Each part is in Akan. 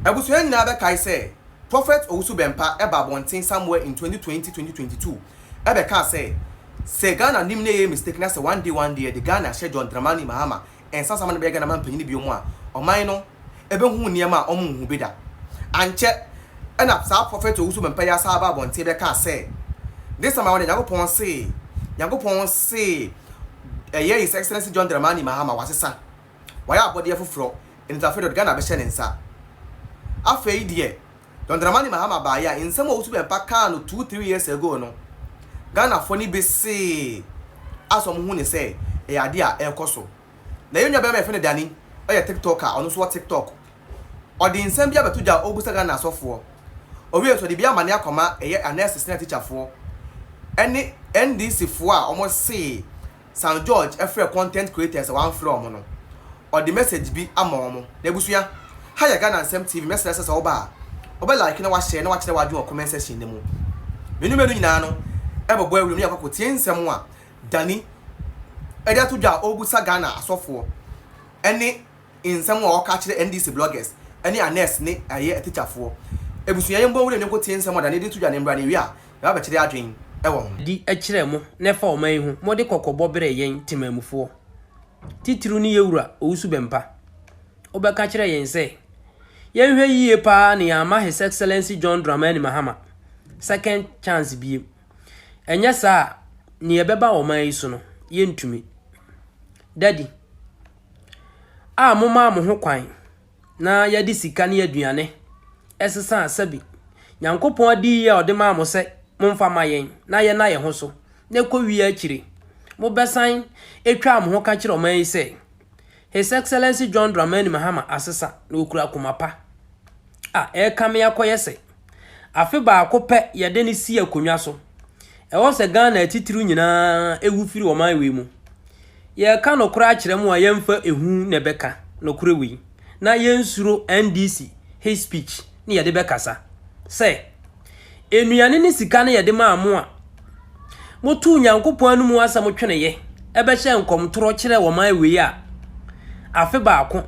Abusua nyinaa bɛkae sɛ Prophet Owusu-Bempah baa abɔnten somewhere in twenty twenty, twenty twenty two bɛkaa sɛ, Sɛ Ghana nim na ɛyɛ mistake na sɛ one day one day yɛde Ghana hyɛ John Dramani Mahama nsa nsa ma no bɛyɛ Ghana man panyin biom a, ɔman no bɛhu nneɛma a wɔnhuu bi da. Ankyɛ na saa Prophet Owusu-Bempah yi asan aba abɔnten bɛkaa sɛ, This time around deɛ Nyankopɔn see, Nyankopɔn see ɛyɛ His Excellency John Dramani Mahama wasesa. Wayɛ abɔdeɛ foforɔ nti afei dɔt Ghana bɛhyɛ ne nsa. Afei deɛ John Dramani Mahama baeɛ a nsɛm a Owusu Bɛmpa kaa no two three years ago no Ghanafoɔ no bi see as wɔn hu no sɛ ɛyɛ adeɛ a ɛrekɔ so. Na yɛn nua barima yɛfrɛ no Danny ɔyɛ TikToker ɔno nso wɔ TikTok ɔde nsɛm bi abɛto gya a ɔrebisa Ghana asɔfoɔ. Ɔwie nso ɔde bi amane akɔma ɛyɛ nurses ne atikyafoɔ ɛne NDC foɔ a wɔn see São Jorge frɛ content creators a wɔamfrɛ wɔn no, ɔde message bi ama wɔn. N'abusua, Ha yɛ Ghana Nsɛm TV, mɛsrɛ sɛ sɛ woba a, wobɛ like na woahyɛ na woakyerɛ w'adwene wɔ comment section no mu. Me ne Manu nyinaa no bɛbɔ awuram na yɛakɔ akɔtie nsɛm a Danny de ato dwa a ɔrebisa Ghana asɔfoɔ ne nsɛm a ɔka kyerɛ NDC bloggers ne Annex ne ɛyɛ atikyafoɔ. Abusua yɛn bɔ nwura mu ne nkotie nsɛm ɔdane de to dwa ne mmra ne wie a yɛba bɛkyere adwen wɔ ho. Di kyerɛ mo na ɛfa ɔman yi ho mode kɔkɔbɔ brɛ yɛn temanmufoɔ titiriw ne yɛwura Owusu Bɛmpa. Wobɛka kyerɛ yɛn sɛ yɛnhwɛ yie paa na yɛamma His Excellency John Dramani Mahama second chance biem. Ɛnyɛ saa a nea ɛbɛba ɔman yi so no yɛntumi. Daddy. a momaa mo ho kwan na yɛde sika ne aduane sesaa sɛbe Nyankopɔn adiyi a ɔde maa mo sɛ momfa mma yɛn na yɛnna yɛn ho so na ɛkɔ wie akyire mobɛsan ɛtwaa mo ho ka kyerɛ ɔman yi sɛ His Excellency John Dramani Mahama asesa na ɔkura koma pa a ɛrekame akɔyɛ sɛ Afe baako pɛ yɛde no si akonnwa so. Ɛwɔ sɛ Ghana atitiriw nyinaa wu firi ɔman wei mu. Yɛreka nokorɛ akyerɛ mo a yɛmfa ehu na ɛbɛka nokorɛ wei na yɛnsuro NDC hate speech ne yɛde bɛkasa sɛ, Nnuane ne sika no yɛde maa mo a, Motow Onyankopɔn anom ho asɛm tweneyɛ bɛhyɛɛ nkɔm toro kyerɛɛ ɔman wei a, afe baako,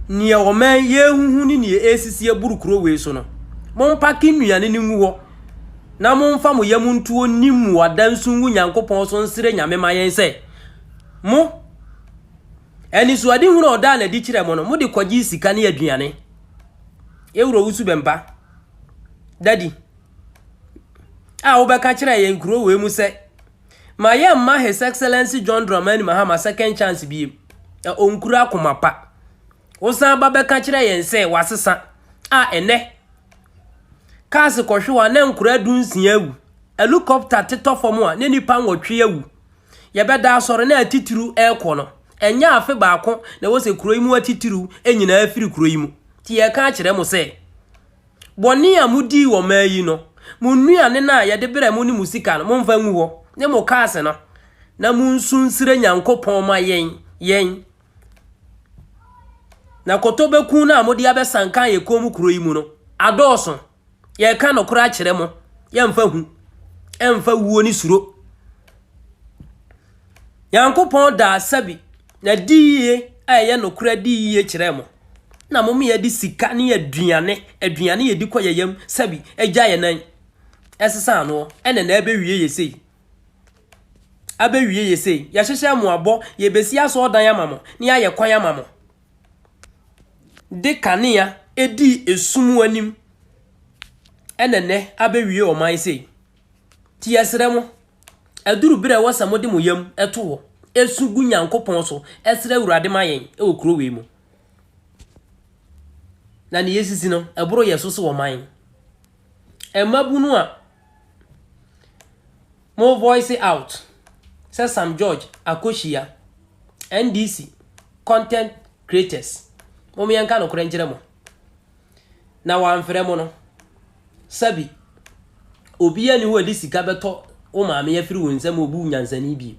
nea ɔman yi ahuhu ne nea ɛresisi aburu kuro wei so no, mompake nnuane no ngu hɔ, na momfa mo yam nto onim mmuada nsu ngu Nyankopɔn so nsrɛ Nyame ma yɛn sɛ, mo, anisoadehunu a ɔdaa no adi kyerɛɛ mo no, mode kɔgyee sika ne aduane. Ewura Owusu Bɛmpa, Dadi. a wobɛka kyerɛ yɛn kuro wei mu sɛ, ma yɛn mma His Excellency John Dramani Mahama second chance biem, na ɔnkura akoma pa. Wosan ba bɛka kyerɛ yɛn sɛ wasesa a ɛnɛ, cars kɔhwe a na nkora du nsia awu, helicopter tetɔ fam a na nipa nwɔtwe awu. Yɛbɛda asɔre na atitiriw ɛrekɔ no, ɛnyɛ afe baako na ɛwɔ sɛ kuro yi mu atitiriw nyinaa firi kuro yi mu. Ti yɛka akyerɛ mo sɛ, Bɔne a mudii wɔ mmaa yi no, mo nnuane no a yɛde brɛɛ mo ne mo sika no, momfa ngu hɔ, ne mo kaase no, na monsu nsrɛ Nyankopɔn mma yɛn, yɛn. Na kotobɛku no a mode abɛsankan yɛn kɔn mu kuro yi mu no, adɔɔso. Yɛreka nokorɛ akyerɛ mo, yɛmfa hu, ɛmfa wuo ne suro. Nyankopɔn daa sabi na di yie a ɛyɛ nokorɛ adi yie kyerɛɛ mo, na mo mmea de sika ne aduane, aduane a yɛdi kɔ yɛn yam sabi, agya yɛn nan, ɛsesa ano, ɛna na abɛwie yɛ sei, abɛwie yɛ sei, yɛhyehyɛ mo abɔ, yɛbɛsi asɔɔdan ama mo, ne ayɛ kwan ama mo, de kanea ɛdi esum anim, ɛna nɛ abɛwie ɔman sei. Ti yɛsrɛ mo, Aduru berɛ a ɛwɔ sɛ mode mo yam to hɔ su gu Nyankopɔn so srɛ Awurade ma yɛn wɔ kuro wei mu. Na nea esisi no, ɛboro yɛn so so wɔ man. Mmabunu a mo voice out sɛ Sam George Akohyia, NDC, content creators, mom yɛnka nokorɛ nkyerɛ mo. na wamfrɛ mo no. Sabi, obiara nni hɔ a ɔde sika bɛtɔ wo maame afiri wo nsam obu nyansani bio.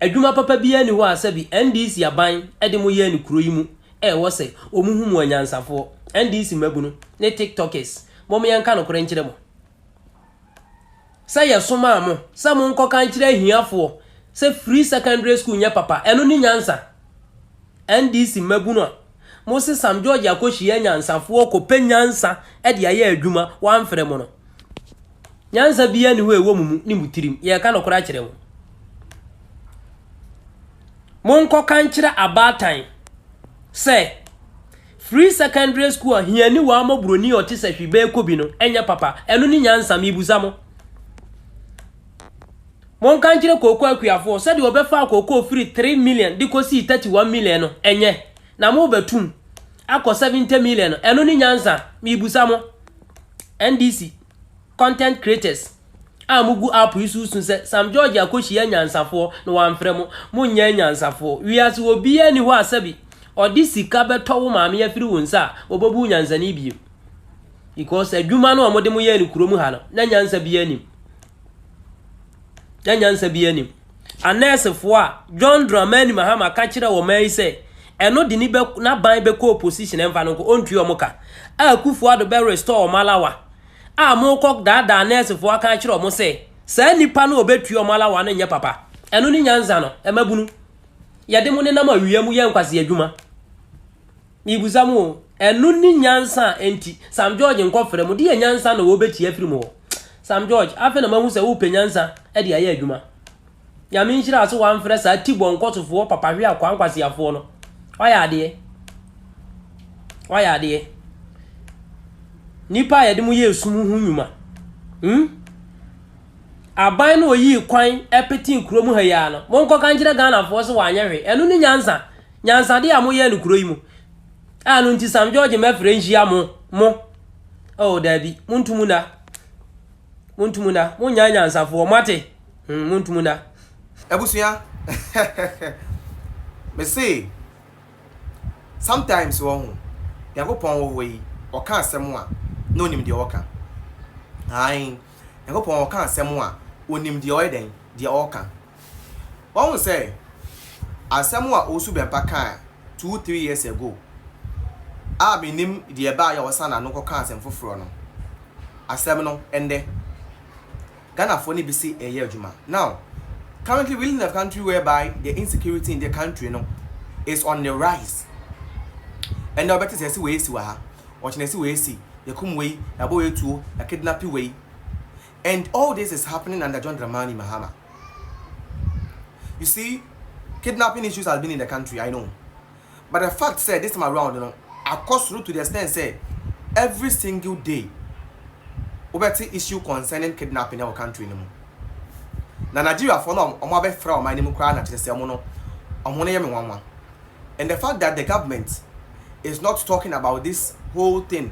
Adwuma papa biara nni hɔ a sabi NDC aban de mo yɛɛ no kuro yi mu a ɛwɔ sɛ wɔhu mo anyansafoɔ. NDC mmabunu ne tiktokers, mom yɛnka nokorɛ nkyerɛ mo. sɛ yɛsomaa mo sɛ monkɔka nkyerɛ ahiafoɔ sɛ free secondary school nyɛ papa, ɛno ne nyansa? NDC mmabunu a mose Sam George akɔhyia anyansafoɔ kɔpɛ nyansa de ayɛ adwuma, wɔamfrɛ mo no, nyansa biara nni hɔ a ɛwɔ mo mu ne mo tirim, yɛreka nokorɛ akyerɛ mo. Monkɔka nkyerɛ abaatan sɛ. Free secondary school a hiani waa mɔ broni a ɔte sɛ hwi bɛɛ kɔ bi no ɛnyɛ papa ɛno ne nyansa mebusa mo monka nkyerɛ kooko akuafoɔ sɛdeɛ ɔbɛfaa kooko firi 3 million de kɔ sii 31 million no ɛnyɛ na mo bɛtum akɔ 70 million no ɛno ne nyansa mebusa mo NDC Content creators a mugu app yi so resu sɛ Sam George akohyia anyansafoɔ na wamfrɛ mo. Monyɛ anyansafoɔ. Wiase obiara nni hɔ a sɛbi ɔde sika bɛtɔ wo maame afiri wo nsa a ɔbɛbu wo nyansani bio. Because adwuma no a wɔde mo yɛɛ no kurom ha no, na nyansa biara nnim. Na nyansa biara nnim. anɛɛsefo a John Dramani Mahama ka kyerɛɛ ɔman yi sɛ ɛno de ne bɛ n'aban bɛkɔ opposition ɛmfa no nko ɔntua ɔmo ka a Akufo Addo bɛ restore ɔmo alawa a mokɔ daadaa anɛɛsefo aka akyerɛ ɔmo sɛ saa nnipa no ɔbɛtua ɔmo alawa no nyɛ papa ɛno ne nyansa no ɛmabunu yɛde mo nenam awia mu yɛ nkwasi adwuma Mibisa mo o, ɛno ne nyansa a enti Sam George nkɔfrɛ mo? Deɛ nyansa na wɔbɛtie afiri mo hɔ? Sam George, afei na mahu sɛ wopɛ nyansa de ayɛ adwuma. Nyame nhyira wo sɛ woamfrɛ saa tibɔ nkɔsofoɔ papahwe akwaa nkwaseafoɔ no. Woayɛ adeɛ. Woayɛ adeɛ. Nnipa a yɛde mo yɛ esum ho nnwuma. Hmm? Aban no ɔyii kwan petee kuro mu ha yi ara no, monkɔka nkyerɛ Ghanafoɔ sɛ wɔanyɛ hwee. Ɛno ne nyansa Nyansade a moyɛ no kuro yi mu a ɛno nti Sam George mmɛfrɛ nhyia mo, mo, oh daabi, montu mu nna, montu mu nna, monnya anyansafoɔ, moate, hmm, montu mu nna. Abusua me se sometimes wɔ ho Nyankopɔn wɔ hɔ yi ɔka asɛm a na onim deɛ ɔka ae Nyankopɔn ɔka asɛm a onim deɛ ɔyɛ dɛn deɛ ɔka. Wahu sɛ asɛm a Owusu Bɛmpa kaa two, three years ago a mennim deɛ ɛbaeɛ a ɔsan n'ano kɔkaa asɛm foforɔ no, asɛm no ɛnnɛ Ghanafoɔ no bi se ɛreyɛ adwuma. Now, currently we live in a country whereby the insecurity in the country no is on the rise. Ɛnnɛ wobɛte sɛ ɛse wei asi wɔ ha, ɔkyena ɛse wei asi, yɛkum wei, yɛabɔ wei tuo, yɛakidnape wei. And all this is happening under John Dramani Mahama. You see, kidnapping issues has been in the country, I know. But the fact sɛ this time around no, akɔ soro to the extent sɛ every single day wobɛte issue concerning kidnapping ɛwɔ country no mu. Na Nigeriafoɔ no a wɔabɛfra ɔman no mu koraa na kyerɛ sɛ wɔn no, wɔn no yɛ me nwanwa. And the fact that the government is not talking about this whole thing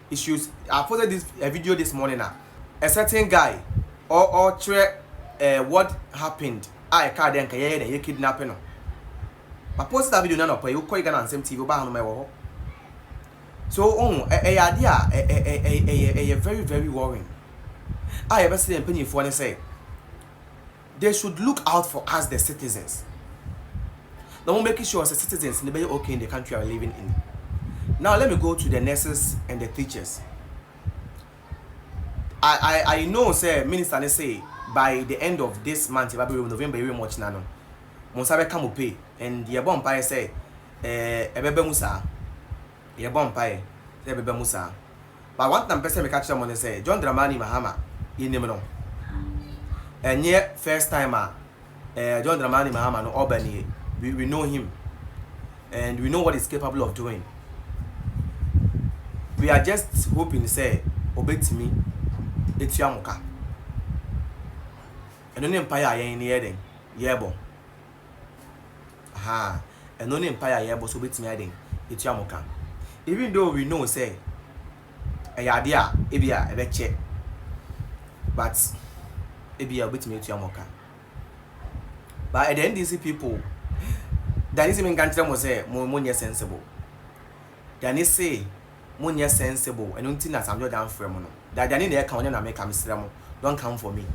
If you I posted this uh, video this morning a a certain guy or or kyerɛ uh, what happened a ɛka dɛ nka yɛyɛ dɛ yɛ kidnap no ma post that video na nɔpɛ wokɔ Ghana Nsɛm TV wobaa no ma ɛwɔ hɔ so ohun ɛyɛ adeɛ a ɛyɛ ɛyɛ very very worrying a yɛbɛsɛ yɛn mpanyinfoɔ ne sɛ They should look out for us the citizens na ɔmo make sure sɛ citizens no bɛyɛ okay in the country are living in. Now let me go to the nurses and the teachers. I I I know sɛ minister ne say by the end of this month yɛba bɛwura mu November yɛwura mu ɔkyena no mo nsa bɛka mo pay and yɛbɔ mpaeɛ sɛ ɛɛ ɛbɛba mu saa yɛbɔ mpaeɛ sɛ ɛbɛba mu saa But one thing a mepɛ sɛ meka kyerɛ mo ne sɛ, John Dramani Mahama yɛnim no. Ɛnyɛ first time a eh, John Dramani Mahama no ɔba nie. We, we know him and we know what he's capable of doing. We are just hoping sɛ ɔbɛtumi atua mo ka. Ɛno ne mpaeɛ a yɛn ne yɛyɛ dɛn? Yɛrebɔ. Ahaa, ɛno ne mpaeɛ a yɛrebɔ sɛ wɔbɛtumi ayɛ dɛn atua mo ka. Even though we know sɛ ɛyɛ adeɛ a ebia ɛbɛkyɛ but ebia wɔbɛtumi atua mo ka. But ɛdɛ NDC people, deɛ ani se menka nkyerɛ mo sɛ mo monyɛ sensible. Deɛ ani se monyɛ sensible, ɛno nti na Sam George amfrɛ mo no. Deɛ deɛ ani na ɛka wɔn na meka, mesrɛ mo, don't come for me.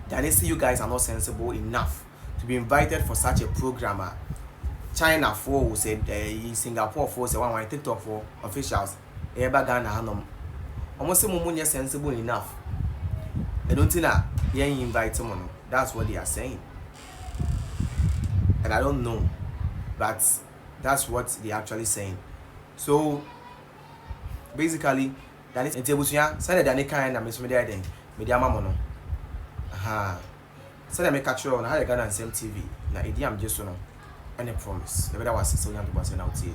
Deɛ ani se you guys are not sensible enough. to be invited for such a programme a China foɔ o sɛ ɛyi Singapore foɔ sɛ wanwan TikTok foɔ officials ɛyɛ ba Ghana ha nom wɔn se mo mo nyɛ sensible enough ɛno nti na yɛn invite mo no that's what they are saying and I don't know but that's what they are actually saying so basically dane nti abusua sɛdeɛ dane kan na mesome de ayɛ dɛn mede ama mo no ahaa. Sɛnea meka kyerɛɛ wo no, ha yɛ Ghana Nsɛm TV, na Ediam gye so no ne Promise. Yɛbɛda wo ase sɛ wonya ntoboaseɛ na wotiee.